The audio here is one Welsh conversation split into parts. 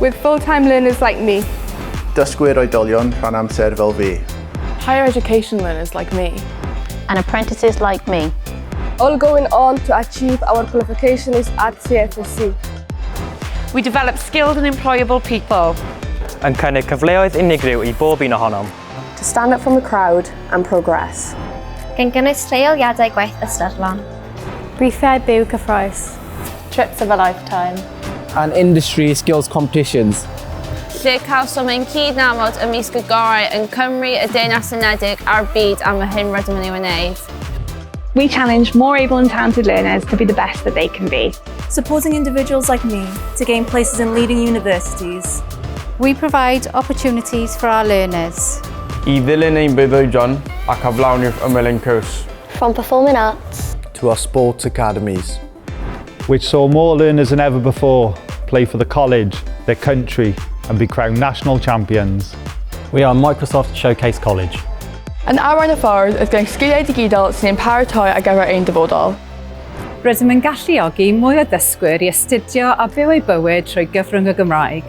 With full time learners like me. Dysgwyr oedolion rhan amser fel fi. Higher education learners like me. And apprentices like me. All going on to achieve our qualification is at CFSC. We develop skilled and employable people. Yn cynnig cyfleoedd unigryw i bob un ohonom. To stand up from the crowd and progress. Gan gynnwys lleoliadau gwaith ystyrlon. Gweithiau byw cyffroes. Trips of a lifetime. And industry skills competitions. Lle cawsom ein cyd-nabod ymysg y gorau yn Cymru, y Deyrnas Unedig a'r byd am yr hyn rydym yn ei wneud. We challenge more able and talented learners to be the best that they can be. Supporting individuals like me to gain places in leading universities. We provide opportunities for our learners. I ddilyn ein breuddwydion ac aflawni'r ymyl ein cwrs. From Performing Arts. To our sports academies. Which saw more learners than ever before play for the college, their country and be crowned national champions. We are Microsoft Showcase College. Yn arwain y ffordd oedd gyda'n sgiliau digidol sy'n ein paratoi ar gyfer ein dyfodol. Rydym yn galluogi mwy o ddysgwyr i astudio a byw eu bywyd trwy gyfrwng y Gymraeg.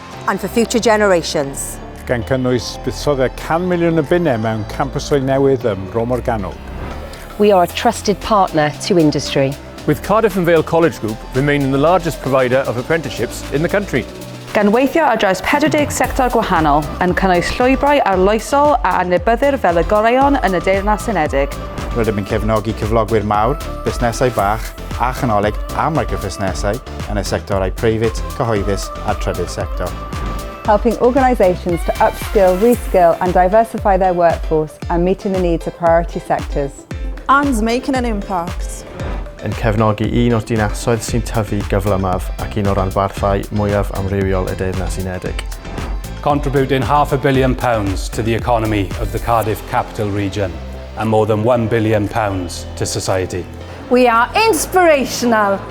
and for future generations. gan gynnwys buddsoddiad 100 miliwn o bunnau mewn campysau newydd ym Mro Morgannwg. We are a trusted partner to industry. With Cardiff and Vale College Group remaining the largest provider of apprenticeships in the country. Gan weithio ar draws 40 sector gwahanol, yn cynnwys llwybrau arloesol a adnabyddir fel y goreuon yn y Deyrnas Unedig, Rydym yn cefnogi cyflogwyr mawr, busnesau bach a chanolig a microfusnesau yn y sectorau preifat, cyhoeddus a'r trydydd sector. helping organisations to upskill, reskill and diversify their workforce and meeting the needs of priority sectors. And making an impact. yn cefnogi un o'r dinasoedd sy'n tyfu gyflymaf ac un o ranbarthau mwyaf amrywiol y Deyrnas Unedig. Contributing half a billion pounds to the economy of the Cardiff Capital Region and more than one billion pounds to society. We are inspirational!